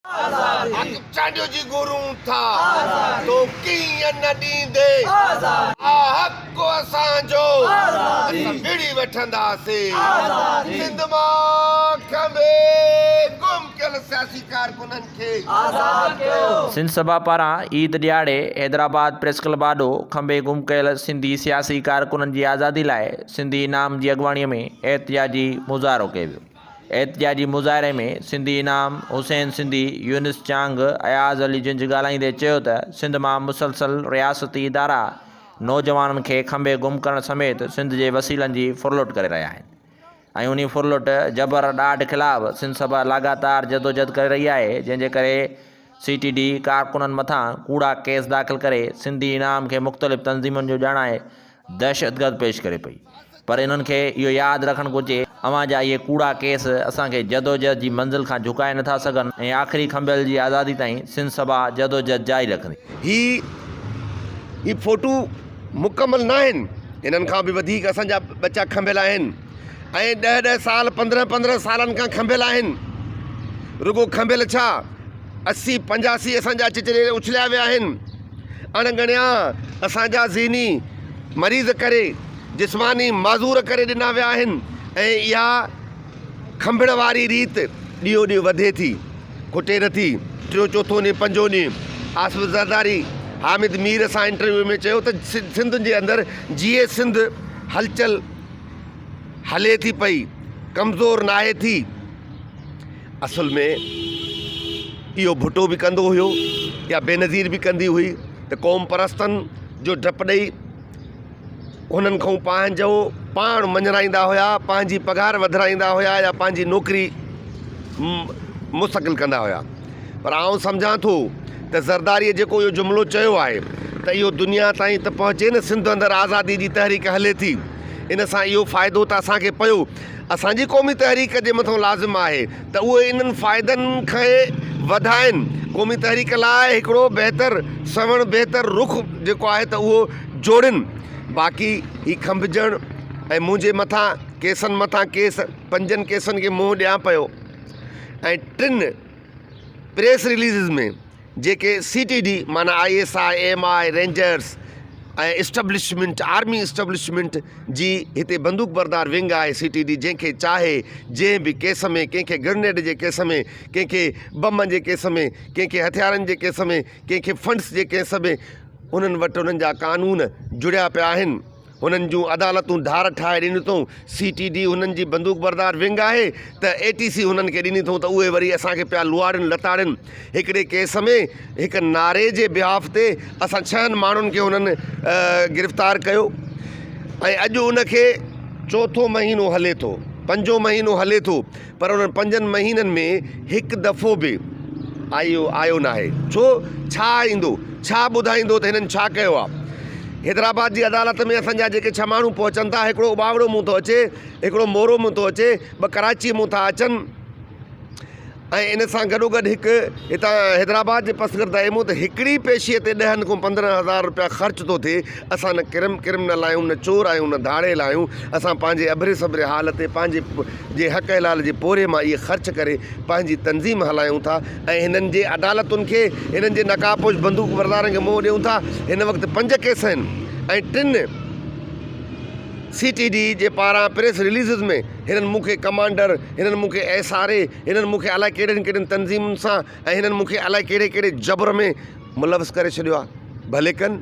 حق چانڊيو جي گهرون ٿا تو ڪيئن نه ڏيندي آ حق اسان جو اسان وڙهي وٺنداسين سنڌ مان کنڀي گم ڪيل سياسي ڪارڪنن کي آزاد ڪيو. سنڌ سڀا پاران عيد ڏيهاڙي حيدرآباد پريس ڪلب آڏو کنڀي گم ڪيل سنڌي سياسي ڪارڪنن جي آزادي لاء سنڌي انعام جي اڳواڻي ۾ احتجاجي مظاهرو ڪيو ويو. احتجاجي مظاهري ۾ سنڌي انعام، حسين سنڌي، يونس چانگ، اياز علي جنج ڳالهائيندي چيو ته سنڌ مان مسلسل رياستي ادارا نوجوانن کي کنڀي گم ڪرڻ سميت سنڌ جي وسيلن جي ڦرلٽ ڪري رهيا آهن ۽ انهي ڦرلٽ، جبر، ڏاڍ خلاف سنڌ سڀا لاڳاتار جدوجھد ڪري رهي آهي جنهن جي ڪري سي ٽي ڊي ڪارڪنن مٿان ڪوڙا ڪيس داخل ڪري سنڌي انعام کي مختلف تنظيمن جو ڄاڻائي دهشتگرد پيش ڪري پئي پر انهن کي اهو ياد رکڻ گهرجي اوهان جا اهي ڪوڙا ڪيس اسان کي جدوجهد جي منزل کان جهڪائي نٿا سگهن ۽ آخري کنڀيل جي آزادي تائين سنڌ سڀا جدوجهد جاري رکندي. هي هي فوٽو مڪمل ناهن انهن کان به وڌيڪ اسان جا ٻچا کنڀيل آهن. ۽ ڏهه ڏهه سال پندرهن پندرهن سالن کان کنڀيل آهن. رڳو کنڀيل ڇا اسي پنجاسي اسان جا چچري اڇليا ويا آهن. اڻ ڳڻيا اسان جا ذهني مريض ڪري جسماني معذور ڪري ڏنا ويا آهن ۽ اها کنڀڻ واري ريت ڏينهون ڏينهن وڌي ٿي کٽي نٿي. ٽيون چوٿون ڏينهن پنجون ڏينهن آصف زرداري حامد مير سان انٽرويو ۾ چيو ته سنڌ جي اندر جيئي سنڌ هلچل. هلي ٿي پئي، ڪمزور ناهي ٿي. اصل ۾ اهو ڀٽو به ڪندو هيو يا بينظير به ڪندي هئي ته قوم پرستن جو ڊپ ڏئي هنن کان پنهنجو پاڻ مڃرائيندا هيا، پنهنجي پگهار وڌرائيندا هيا يا پنهنجي نوڪري مستقل ڪندا هيا. پر آئون سمجهان ٿو ته زرداريء جيڪو اهو جملو چيو آهي ته اهو دنيا تائين ته پهچي نه سنڌ اندر آزاديء جي تحريڪ هلي ٿي، ان سان اهو فائدو ته اسان کي پيو، اسان جي قومي تحريڪ جي مٿان لازم آهي ته اهي انهن فائدن کي وڌائين، قومي تحريڪ لاء هڪڙو بهتر سنئوڻ بهتر رخ جيڪو آهي ته اهو جوڙين، باقي هي کنڀجڻ ۽ منهنجي مٿان ڪيسن مٿان ڪيس پنجن ڪيسن کي منهن ڏيان پيو. ۽ ٽن پريس رليزز ۾ جيڪي سي ٽي ڊي معنيٰ I S I M I rangers ۽ establishment army establishment جي هتي بندوق بردار ونگ آهي سي ٽي ڊي جنهن کي چاهي جنهن به ڪيس ۾ ڪنهن کي گرنيڊ جي ڪيس ۾ ڪنهن کي بمن جي ڪيس ۾ ڪنهن کي هٿيارن جي ڪيس ۾ ڪنهن کي فنڊز جي ڪيس ۾ انهن وٽ انهن جا قانون جڙيا پيا آهن هنن جون عدالتون ڌار ٺاهي ڏنيون اٿئون، سي ٽي ڊي هنن جي بندوق بردار ونگ آهي ته اي ٽي سي هنن کي ڏني اٿئون ته اهي وري اسان کي پيا لوئاڙين لتاڙين، هڪڙي ڪيس ۾ هڪ نعري جي بيهاف تي اسان ڇهن ماڻهن کي هنن گرفتار ڪيو ۽ اڄ ان کي چوٿون مهينو هلي ٿو پنجون مهينو هلي ٿو. پر انهن پنجن مهينن ۾ هڪ دفعو به آء آيو ناهي. ڇو؟ ڇا ايندو؟ ڇا ٻڌائيندو ته هنن ڇا ڪيو آ؟ حيدرآباد جي عدالت ۾ اسان جا جيڪي ڇهه ماڻهو پهچن ٿا، هڪڙو اٻاوڙو مون ٿو اچي، هڪڙو مورو مون ٿو اچي، ٻه ڪراچيء مون ٿا اچن ۽ ان سان گڏوگڏ هڪ هتان حيدرآباد جي پسگرد ايمو ته هڪڙي پيشي تي ڏهن کان پندرهن هزار روپيا خرچ ٿو ٿئي. اسان نه ڪرم ڪرم نه لايون، نه چور آهيون، نه ڌاڙيل آهيون، اسان پنهنجي ابري سبري حال تي پنهنجي جي حق حلال جي پورهيي مان اهي خرچ ڪري پنهنجي تنظيم هلايون ٿا ۽ هنن جي عدالتن کي هنن جي نقاب پوش بندوق بردارن کي منهن ڏيون ٿا هن وقت پنج ڪيس آهن ۽ ٽن سي ٽي ڊي جي پاران پريس رليزز ۾ هنن مون کي ڪمانڊر هنن مون کي ايس آر اي هنن مون کي الائي ڪهڙين ڪهڙين تنظيمن سان ۽ هنن مون کي الائي ڪهڙي ڪهڙي جبر ۾ ملوث ڪري ڇڏيو آهي ڀلي ڪن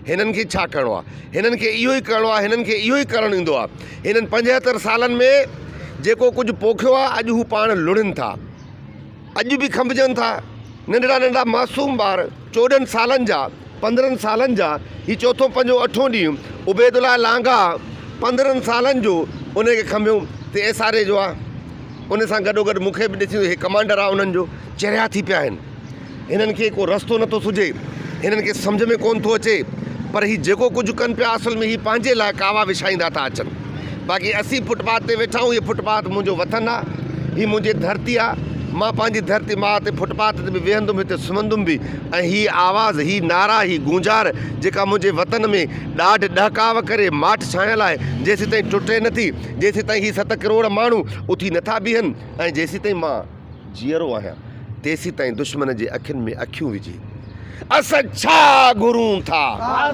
هنن کي ڇا ڪرڻو آهي هنن کي اهو ئي ڪرڻو آهي هنن کي اهو ئي ڪرڻ ايندو آهي هنن پنجهتر سالن ۾ جيڪو ڪجهه پوکيو آهي اڄ هو پاڻ لڙهن ٿا اڄ به کنڀجن ٿا ننڍڙا ننڍڙا معصوم ٻار چوڏهن سالن جا پندرهن سالن جا هي چوٿون پنجون اٺون ڏينهن عبيد الله لانگاهه پندرهن سالن جو ان کي کنڀيو ته ايس آر اي جو آهي ان سان گڏو گڏ مون کي به ڏسي هي ڪمانڊر آهي انهن جو چريا ٿي پيا آهن هنن کي ڪو رستو نه ٿو سجهي، هنن کي سمجهه ۾ ڪونه ٿو اچي، پر هي جيڪو ڪجهه ڪن پيا اصل ۾ هي پنهنجي لاء ڪاوا وڇائيندا ٿا اچن. باقي اسين فٽ پاٿ تي ويٺا آهيون، هي فٽ پاٿ منهنجو وطن آ، هي منهنجي ڌرتي آ، مان پنهنجي ڌرتي ماء تي فٽ پاٿ تي به ويهندم، هتي سمهندم به ۽ هي آواز، هي نعرا، هي گونجار جيڪا منهنجي وطن ۾ ڏاڍ ڏهڪاء ڪري ماٺ ڇانيل آهي، جيسيتائين ٽٽي نه ٿي، جيسيتائين هي ست ڪروڙ ماڻهو اٿي نه ٿا بيهن ۽ جيسيتائين مان. جيئرو آهيان، تيسيتائين دشمن جي اکين ۾ اکيون وجهي، اسان ڇا گهرون ٿا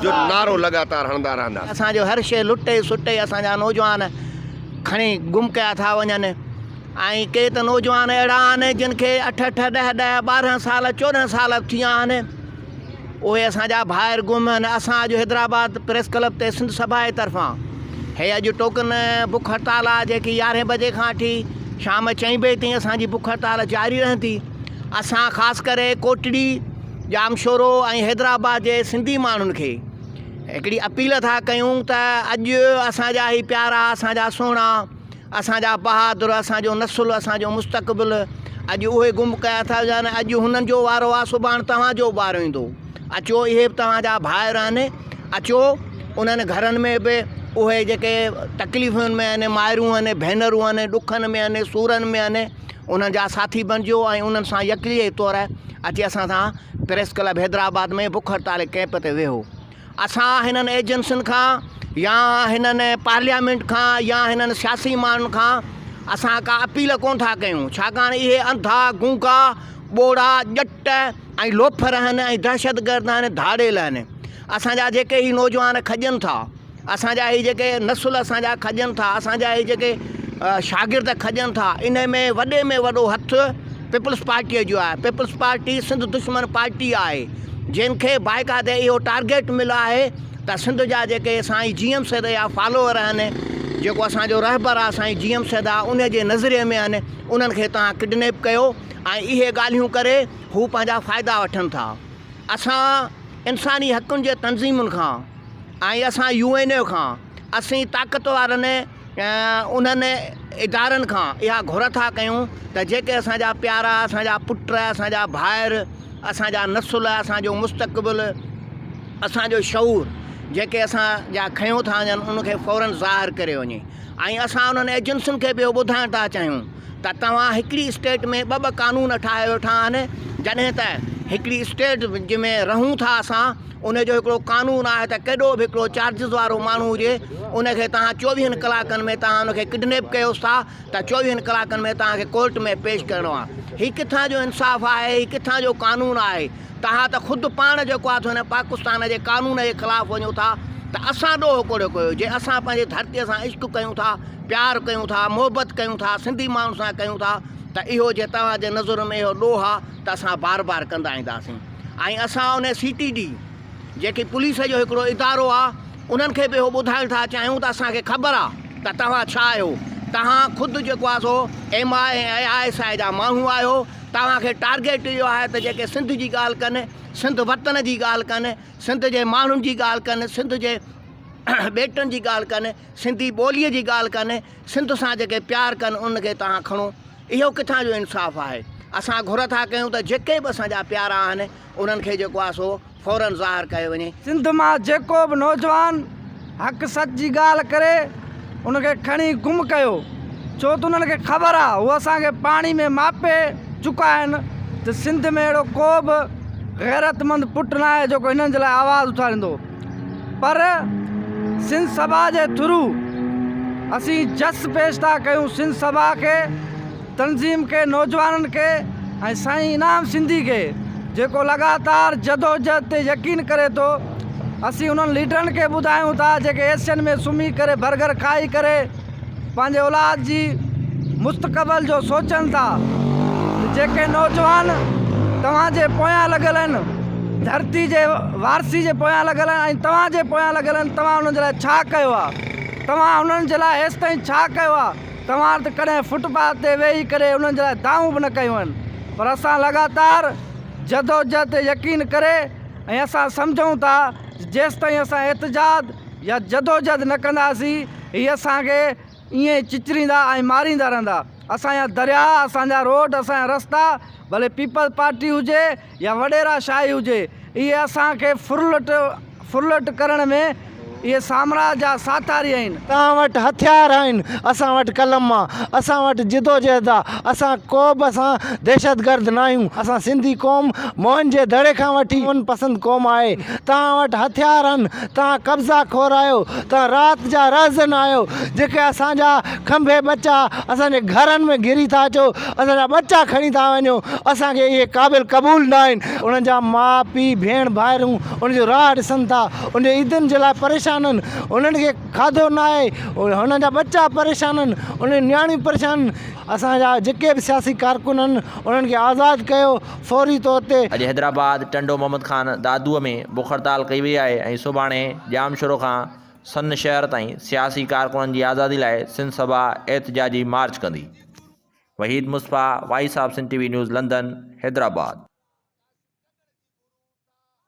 جو نعرو لڳاتار هڻندا رهنداسين. اسان جو هر شيء لٽي سٽي اسان جا نوجوان کڻي گم ڪيا ٿا وڃن ۽ ڪي ته نوجوان اهڙا آهن جن کي اٺ اٺ، ڏهه ڏهه، ٻارهن سال، چوڏهن سال به ٿي ويا آهن. اهي اسان جا ڀائر گم آهن اسان اڄ حيدرآباد پريس ڪلب تي سنڌ سڀا جي طرفان هي اڄ ٽوڪن بک هڙتال آهي جيڪي يارهين بجي کان وٺي شام چئين بجي تائين اسان جي بک هڙتال جاري رهندي اسان خاص ڪري ڪوٽڙي ڄامشورو ۽ حيدرآباد جي سنڌي ماڻهن کي هڪڙي اپيل ٿا ڪيون ته اڄ اسان جا هي پيارا اسان جا سهڻا اسان جا بهادر، اسان جو نسل، اسان جو مستقبل اڄ اهي گم ڪيا ٿا وڃن. اڄ هنن جو وارو آ، سڀاڻ توهان جو به وارو ايندو. اچو اهي به توهان جا ڀائر آهن. اچو انهن گهرن ۾ به اهي جيڪي تڪليفن ۾ آهن، مائرون آهن، ڀينرون آهن، ڏکن ۾ آهن، سورن ۾ آهن، انهن جا ساٿي بڻجو ۽ انهن سان يڪليء طور اچي اسان سان پريس ڪلب حيدرآباد ۾ بک هڙتال ۽ ڪئمپ تي ويهو. اسان هنن ايجنسين کان يا هنن پارليامينٽ کان يا هنن سياسي ماڻهن کان اسان ڪا اپيل ڪونه ٿا ڪيون ڇاڪاڻ اهي انڌا، گونگا، ٻوڙا، ڄٽ ۽ لوفر آهن ۽ دهشتگرد آهن، ڌاڙيل آهن. اسان جا جيڪي هي نوجوان کڄن ٿا، اسان جا هي جيڪي نسل اسان جا کڄن ٿا، اسان جا هي جيڪي شاگرد کڄن ٿا انهي ۾ وڏي ۾ وڏو هٿ پيپلز پارٽيء جو آهي. پيپلز پارٽي سنڌ دشمن پارٽي آهي. جن کي باقاعده اهو ٽارگيٽ مليو آهي ته سنڌ جا جيڪي سائين جي ايم سيد جا فالوور آهن جيڪو اسانجو رهبر آهي سائين جي ايم سيد آهي ان جي نظرئي ۾ آهن انهن کي تان ڪڊنيپ ڪيو ۽ اهي ڳالهيون ڪري هو پنهنجا فائدا وٺن ٿا اسان انساني حقن جي تنظيمن کان ۽ اسان يو اين اي کان اسين طاقت وارن انهن ادارن کان اها گهر ٿا ڪيون ته جيڪي اسان جا پيارا اسان جا پٽ اسان جا ڀائر اسان جا نسل اسان جو مستقبل اسان جو شعور جيڪي اسان جا کنيو ٿا وڃن ان کي فورن ظاهر ڪريو وڃي ۽ اسان انهن ايجنسين کي ٻيو ٻڌائڻ ٿا چاهيون ته توهان هڪڙي اسٽيٽ ۾ ٻه ٻه قانون ٺاهي ويٺا آهن جڏهن ته هڪڙي اسٽيٽ جنهن ۾ رهون ٿا اسان ان جو هڪڙو قانون آهي ته ڪيڏو به هڪڙو چارجز وارو ماڻهو هجي ان کي توهان چوويهن ڪلاڪن ۾ توهان ان کي ڪڊنيپ ڪيوس ٿا ته چوويهن ڪلاڪن ۾ توهان کي ڪورٽ ۾ پيش ڪرڻو آهي هي ڪٿان جو انصاف آهي هي ڪٿان جو قانون آهي توهان ته خود پاڻ جيڪو آهي هن پاڪستان جي قانون جي خلاف وڃو ٿا ته اسان ڏوهه ڪوڙيو ڪيو جي اسان پنهنجي ڌرتي سان عشق ڪيون ٿا پيار ڪيون ٿا محبت ڪيون ٿا سنڌي ماڻهن سان ڪيون ٿا ته اهو جي توهان جي نظر ۾ اهو ڏوهه آهي ته اسان بار بار ڪندا اينداسين ۽ اسان ان سي ٽي ڊي جيڪي پوليس جو هڪڙو ادارو آ انهن کي به اهو ٻڌائڻ ٿا چاهيون ته اسان کي خبر آ ته توهان ڇا آهيو توهان خود جيڪو آ سو M I A ۽ I S I جا ماڻهو آهيو توهان کي ٽارگيٽ اهو آهي ته جيڪي سنڌ جي ڳالهه ڪن سنڌ وطن جي ڳالهه ڪن سنڌ جي ماڻهن جي ڳالهه ڪن سنڌ جي ٻيٽن جي ڳالهه ڪن سنڌي ٻولي جي ڳالهه ڪن سنڌ سان جيڪي پيار ڪن ان کي توهان کڻو اهو ڪٿان جو انصاف آهي؟ اسان گهر ٿا ڪيون ته جيڪي به اسان جا پيارا آهن انهن کي جيڪو آهي سو فورن ظاهر ڪيو وڃي. سنڌ مان جيڪو به نوجوان حق سچ جي ڳالهه ڪري ان کي کڻي گم ڪيو ڇو ته انهن کي خبر آهي هو اسان کي پاڻي ۾ ماپي چڪا آهن ته سنڌ ۾ اهڙو ڪو به غيرتمند پٽ ناهي جيڪو هنن جي لاء آواز اٿاريندو. پر سنڌ سڀا جي ٿرو اسين جس پيش ٿا ڪيون سنڌ سڀا کي تنظيم کي نوجوانن کي ۽ سائين انعام سنڌي کي جيڪو لڳاتار جدوجھد تي يقين ڪري ٿو اسين انهن ليڊرن کي ٻڌايون ٿا جيڪي ايسين ۾ سمهي ڪري برگر کائي ڪري پنهنجي اولاد جي مستقبل جو سوچن ٿا ته جيڪي نوجوان توهان جي پويان لڳل آهن ڌرتي جي وارثي جي پويان لڳل آهن ۽ توهان جي پويان لڳل آهن توهان انهن جي لاء ڇا ڪيو آهي توهان انهن جي لاء هيستائين ڇا ڪيو آهي توهان ته ڪڏهن فٽ پاٿ تي ويهي ڪري انهن جي لاء دانهون به نه ڪيون آهن پر اسان لڳاتار جدوجهد تي يقين ڪري ۽ اسان سمجهون ٿا جيستائين اسان احتجاج يا جدوجھد نه ڪنداسين، هي اسان کي ائين ئي چچريندا ۽ ماريندا رهندا. اسان جا درياء، اسان جا روڊ، اسان جا رستا، ڀلي پيپلز پارٽي هجي يا وڏيرا شاهي هجي، اهي اسان کي ڦرلٽ ڦرلٽ ڪرڻ ۾ اهي سامراج جا ساٿاري آهن. توهان وٽ هٿيار آهن، اسان وٽ قلم آ، اسان وٽ جدوجهد آ، اسان ڪوبه اسان دهشتگرد ناهيون، اسان سنڌي قوم موهن جي دڙي کان وٺي امن پسند قوم آهي. توهان وٽ هٿيار آهن، توهان قبضا خور آهيو، توهان رات جا رهزن آهيو، جيڪي اسان جا کنڀي ٻچا اسان جي گهرن ۾ گهري ٿا اچو، اسان جا ٻچا کڻي ٿا وڃو، اسان کي اهي قابل قبول نه آهن. انهن جا ماء، پيء، ڀيڻ، ڀائرون انهن جو راهه ڏسن ٿا، انهن جي عيدن جي لاء پريشان آهن، انهن کي کاڌو نه آهي، انهن جا ٻچا پريشان آهن، انهن جون نياڻيون پريشان آهن. اسان جا جيڪي به سياسي ڪارڪن آهن، انهن کي آزاد ڪيو، فوري طور تي. اڄ حيدرآباد ٽنڊو محمد خان دادوء ۾ بک هڙتال ڪئي وئي آهي ۽ سڀاڻي ڄام شورو کان سن شهر تائين سياسي ڪارڪنن جي آزادي لاء سنڌ سڀا احتجاجي مارچ ڪندي. Waheed Misbah, voice of Sindh T V news London, Hyderabad.